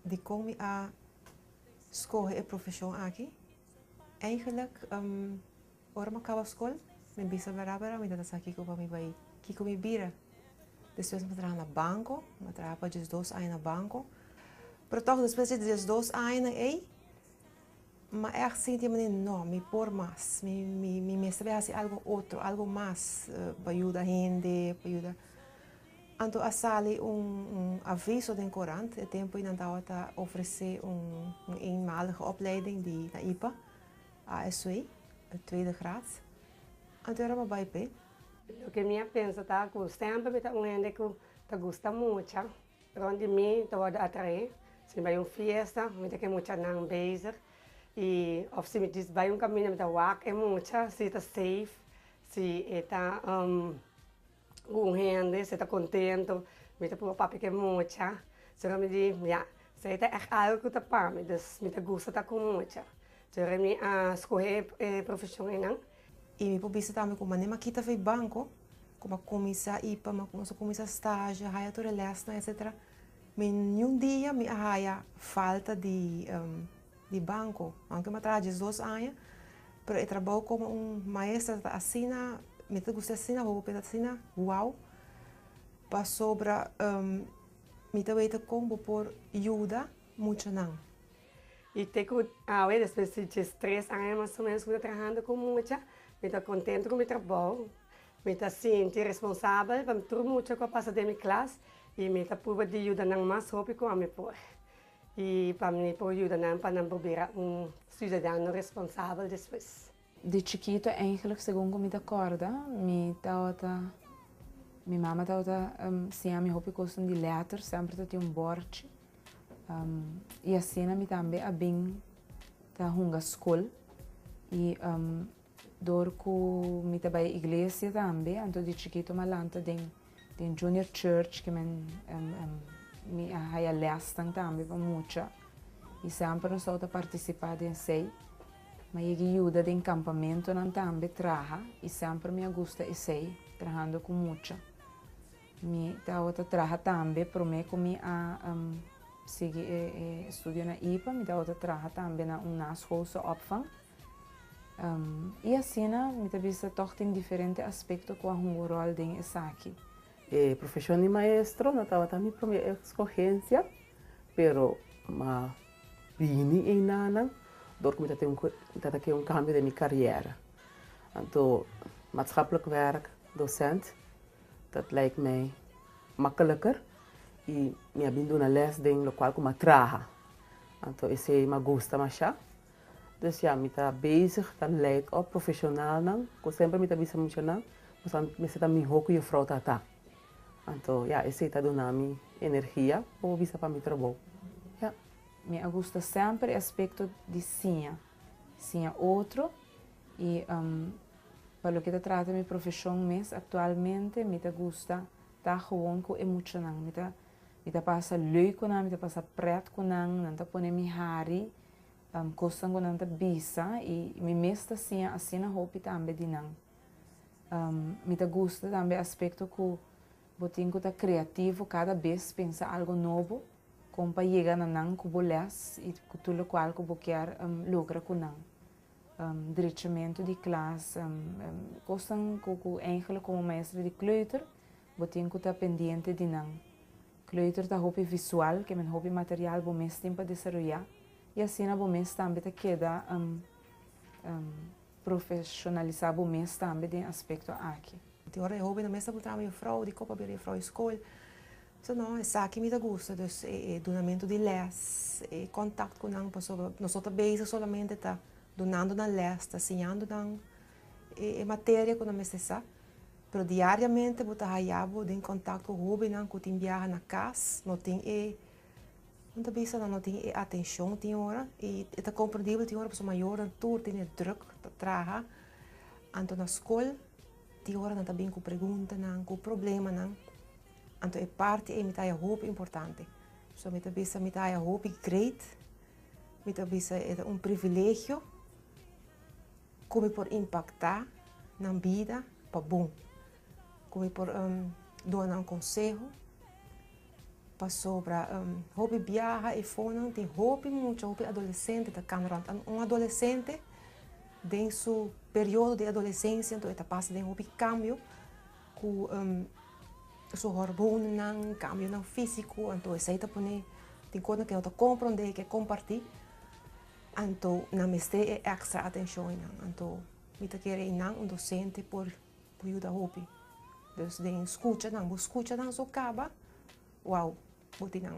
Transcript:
dikon mi a skohe e profeshon aki? Eigenlik, ora mi a kaba skol, mi bisa bera bera mi no ta sa kiko pa mi bai, kiko mi bira. Despues mi a traha na banko, mi a traha pa diesdos aña na banko. Pero tòg despues di diesdos añanan ei, Ma ech sinti manera no, mi por mas, mi mi mi mester bay hasi algo otro, algo mas pa yuda hende, pa yuda. Anto a sali un un aviso den korant e tempo y nan tabata ofrece un un eenmalige opleiding di na ipa, ASW, tweede graad. Anto e rama bay p'e. Loke mi a pensa ta ku semper mi ta un hende ku ta gusta mucha. Rond di mi ta wòrdu atraé si mi bai un fiesta mi ta ke muchanan bezig i òf si mi djis bai un kaminda mi ta wak e mucha si e ta seif, si e ta ku un hende, si e ta kontentu, mi ta puru papia ku e mucha sino mi di ya se ta ègt algu ku ta pa mi, dus mi ta gusta ta ku mucha. Sino mi a skohe e profeshon einan. I mi por bisa tambe ku manera mi a kita fei banko, ku mi a kuminsá i pa mi a kuminsá stazio, haya tur e lèsnan etsetera, mi niun dia mi a haya falta di banko. Aunke mi a traha diesdos aña, pero e trabou komo un maestra ta asina, mi ta gusta asina hopi, ta asina wou, pasobra mi ta weta kon bo por yuda muchanan. I te ku awe, despues di djes tres aña mas o ménos ku mi ta trahando ku mucha, mi ta kontentu ku mi trabou. Mi ta sinti responsabel pa tur mucha ku a pasa den mi klas i mi ta pruba di yuda nan mas hopi ku ami por. I pa mi por yuda nan pa nan por bira un siudadano responsabel despues. Di chikitu eindelijk segun ku mi ta kòrda mi tabata mi mama tabata siña mi hopi kosnan di lèter semper ta tin un bòrchi i asina mi tambe a bin ta hunga skol i dor ku mi ta bai iglesia tambe anto di chikitu mi a lanta den Tin Junior Church ki men mi a haya lèsnan tambe pa mucha i semper nos tabata partisipá den esei. Mi a yega yuda den kampamentunan tambe traha i semper mi a gusta esei, trahando ku mucha. Mi tabata traha tambe promé ku mi a sigui e studio na ipa, mi tabata traha tambe na un naschoolse opvang. I asina mi ta bisa tòg tin diferente aspekto ku a hunga ròl den esaki. E profeshon di maestro no tabata mi promé eskohensia, pero mi a bini einanan dor ku mi ta tene mi ta ke un kambio den mi karièra. Anto matskaplik wèrk dosent dat laik mi makeliker i mi a bin duna lès den lokual ku mi a traha. Anto esei mi a gusta masha Pues ya, mi ta bezig ta leid op profesionalnan, ku semper mi ta bisa muchanan, nos ta mester ta mihó ku Jufrou Tata. Anto ya, esei ta duna mi energia pa bo bisa pa mi trabou. Ya. Mi a gusta semper e aspekto di siña, siña otro, i pa loke ta trata mi profeshon mes aktualmente mi ta gusta ta gewoon ku e muchanan. Mi ta, mi ta pasa leuk ku nan, mi ta pasa prèt ku nan, nan ta pone mi hari Pan kosnan ku nan ta bisa i mi mes ta siña asina hopi tambe di nan. Mi ta gusta tambe e aspekto ku bo tin ku ta kreativo kada bes pensa algu nobo kon pa yega na nan ku bo lès i ku tur lokual ku bo kier logra ku nan. Drechamentu di klas, kosnan ku ku ehempel komo maestra di kleuter Bo tin cu ta pendiente di nan. Kleuter ta hopi visual, que men hopi material bo mes tin pa desaroya, y asina bo mes tambe ta keda um um profesionalisa bo mes tambe den aspecto aki. Tin ora e hobennan mes ta puntra mi, Juffrouw, di copa bira juffrouw e school? Sa no, esaki mi ta gusta, dus e e dunamento di les, e contact cu nan, pasobra nos no ta bezig solamente ta dunando nan les, ta siñando nan. e e materia ku nan mester sa. Pero diariamente bo ta haya bo den kontak ku hóbennan ku tin biaha na kas, no tin e, nan ta bisa nan no tin e atenshon tin ora. I e ta komprendibel tin ora pasobra mayornan tur tin e drùk, ta traha, anto na skol tin ora nan ta bin ku preguntanan, ku problemanan. Anto e parti ei mi ta haya hopi importante. So mi ta bisa mi ta haya hopi great. Mi ta bisa e ta un privilegio Ku mi por impaktá nan bida pa bon? Ku mi por duna nan konseho? Pasobra hopi biaha i fonan tin hopi mucha, hopi adolesente ta kanda. Ora un adolesente den su periodo di adolesensia e ta pasa den hopi kambio ku su hormonnan, kambionan físiko. Anto esei ta pone tin kosnan ku e no ta komprondé, ke kompartí. Anto nan mester e extra atencion eynan. Anto mi ta kere eynan un docente por por yuda hopi. Dus den scucha nan, bo scucha nan so caba, wow, bo tin nan.